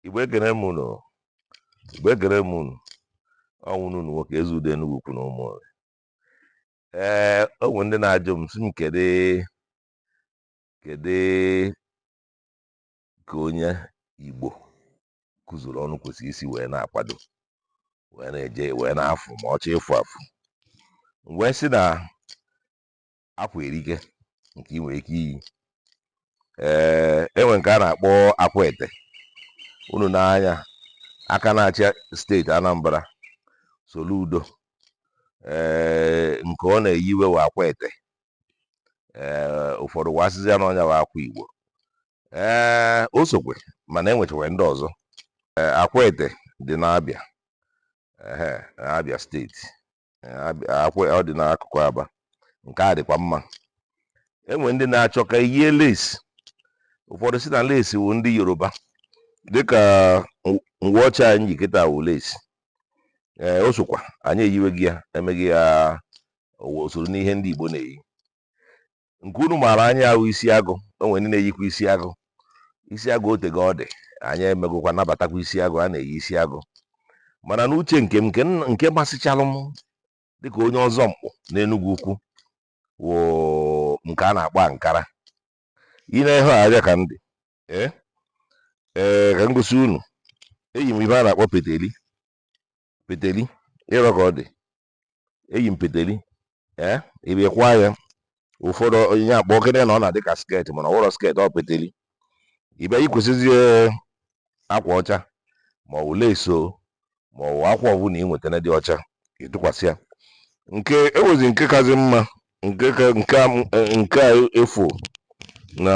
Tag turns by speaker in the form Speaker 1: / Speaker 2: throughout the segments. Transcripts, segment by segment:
Speaker 1: Igbo ekene m unu Igbo ekene m unu ọ wụ nwanne unu nwoke Ezeudo Enugwu Ukwu na Ụmụnri ee o nwere ndị na-ajụ m sị m kedu kedu ka onye Igbo kụzuru ọnụ kwesịrị isi wee na-akwado wee na-eje wee na-afụ ma ọ chọọ ịfụ afụ m wee sị na akwa erika nke ị nwere ike iyi ee enwe nke a na-akpọ Akwete unu nee anya aka na-achị steeti Anambra Soludo ee nke ọ na-eyiwe wụ Akwete ee ụfọdụ wa sịzi ya na ọ nya wụ akwa Igbo ee o sokwe mana enwechakwe ndị ọzọ Akwete dị n'Abịa Abịa steeti ọ dị n'akụkụ Aba nke a dịkwa mma enwe ndị na-achọ ka eyie lace ụfọdụ sị na lace wụ ndị Yoruba dịka ngwa ọcha anyị ji kịta wụ lace ee o sokwa anyị eyiwego ya emego ya o soro n'ihe ndị Igbo na-eyi nke unu maara anya wụ isi agụ o nwere ndị na-eyikwa isi agụ isi agụ otego ọ dị anyị emegokwa nabatakwa isi agụ a na-eyi isi agụ mana n'uche nke m nke m- nke masịchalụ m dịka onye ọzọ mkpụ n'Enugwu Ukwu wụ nke a na-akpọ ankara ị na-ehe arịa ka ndị ee ee ka m gosi unu eyi m ihe a na-akpọ peteli peteli ị hụrọ ka ọ dị eyi m peteli ee ị bịa kwaa ya ụfọdụ onye akpọ okene na ọ na-adị ka sket mana ọ wụrọ sket ọ peteri ị bịa yikwasịzie akwa ọcha ma ọ bụ lace ma ọ bụ akwa ọbụla ị nwetara dị ọcha ị tụkwasị ya nke a wụzi nke kazi mma nke ka nke a m- eh, nke a efu na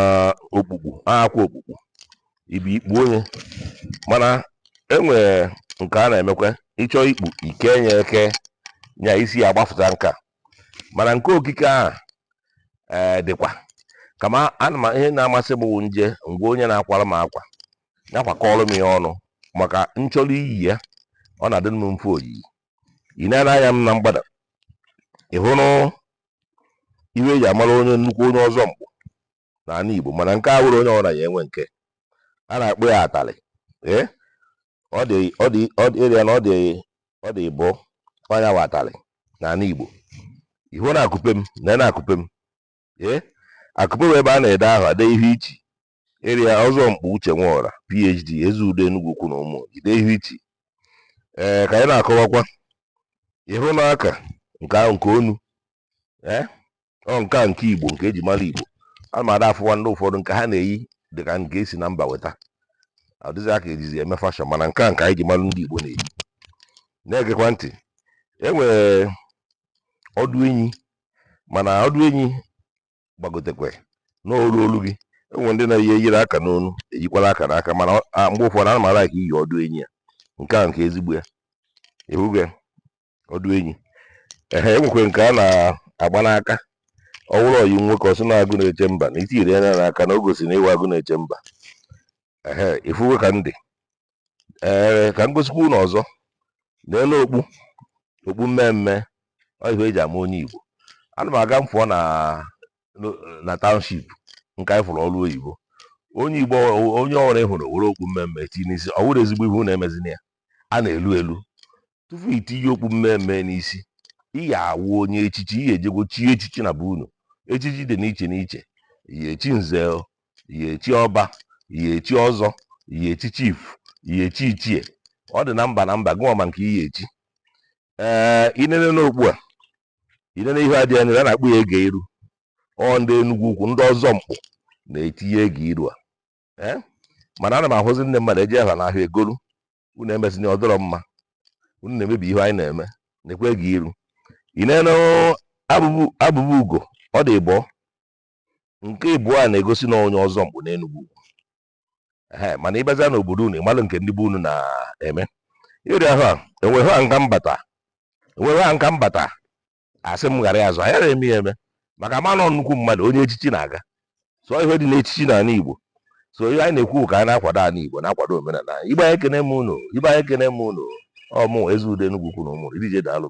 Speaker 1: okpukpu akwa okpukpu ị bịa kpuo nya mana enwere nke a na-emekwa ị chọọ ikpu i kenye ekenye isi ya agbafụta nka mana nke okike ahụ ee dịkwa kama ana m ihe na-amasị m bụ m je nga onye na-akwara m akwa nya akwakọrọ m ya ọnụ maka m chọrọ iyi ya ọ na-adị m mfe oyiyi ị na-ele anya m na mgbada ị hụrụ ihe eji amara onye nnukwu onye ọzọ mkpụ n'ala Igbo mana nke a wụrọ onye ọbụla ya-enwe nke a na-akpọ ya atalị ee ọ dị ọ dị ọ dị ịrịa na ọ dị ọ dị ịbọ ọ nya wụ atalị n'ala Igbo ị hụ n'akupe m na n'akupe m ee akupe wụ ebe a na-ede aha ede ihe i chi Ịrịa Ọzọmkpụ Uche Nwaọra, PhD, Ezeudo Enugu Ukwu na Ụmụnri, Ihu Ichi. Ee, ka anyị na-akọwakwa ị hụ na aka nke ahụ nke onu ee ọ nke a nke Igbo nke eji mara Igbo a ma ada afụwa ndị ụfọdụ nke ha na-eyi dị ka nke esi na mba weta ọ dịzị aka ejizi eme fashọn mana nke a nke anyị ji mara ndị Igbo na-eyi na-egekwa ntị e nwere ọdụ enyi mana ọdụ enyi gbagotekwe n'olu olu gị enwe ndị na-eyi eyiri aka n'onu eyikwala aka n'aka mana mgbe ụfọdụ ọ na-amalaka iyi ọdụ enyi a nke a nke ezigbo ya ị hụgo ọdụ enyi ehe enwekwe nke a na-agba n'aka ọ bụrụ onye nwoke ọ sị na agụ na-eche mba na itinyere ya n'aka na o gosi na ị wụ agụ na-eche mba ehe ị fụgo ka ndị ee ka m gosikwa unu ọzọ n'elu okpu okpu mmee mmee ọ ihe eji ama onye Igbo ana m aga m fụọ na na township nke anyị fụrụ ọrụ oyibo onye Igbo onye ọbụla ịhụrụ were okpu mmee mmee tinye n'isi ọ wụrọ ezigbo ihe unu emezina ya a na-elu elu tupu i tinye okpu mmee mmee n'isi ị ya awụ onye echichi ị ya ejego chie echichi na be unu echichi dị n'iche n'iche ị ya echi nze ị ya echi ọba ị ya echi ọzọ ị ya echi chief ị ya echi ichie ọ dị na mba na mba gịwa ma nke ị ya echi ee inene n'okpu a inene ihe a dị ya a na-akpọ ya ege iru ọ ndị enugwu ukwu ndị ọzọ mkpụ na-etinye ege iru a ee mana ana m ahụzi ndị mmadụ eje ha n'ahịa egolu unu emezina ọ dịrọ mma unu na-emebi ihe anyị na-eme nekwa ege iru inene abụba ugo ọ dị ịbụọ nke ịbụọ a na-egosi na onye ọzọ mkpụ n'Enugwu ukwu ee mana ịbazia n'obodo unu ịmalụ nke ndị be unu na-eme ịrịa ha enweghị ha nka mbata enweghị ha nka mbata asị m ghara ya azụ anyị na-eme ya eme maka ama na ọ nnukwu mmadụ onye echichi na-aga so ihe dị n'echichi n'ala Igbo so ihe anyị na-ekwu ka anyị na-akwado ala Igbo na-akwado omenala anyị ibe anyị ekene m unu ibe anyị ekene m unu ọ mụ Ezeudo Enugu Ukwu na Ụmụnri deje daalụ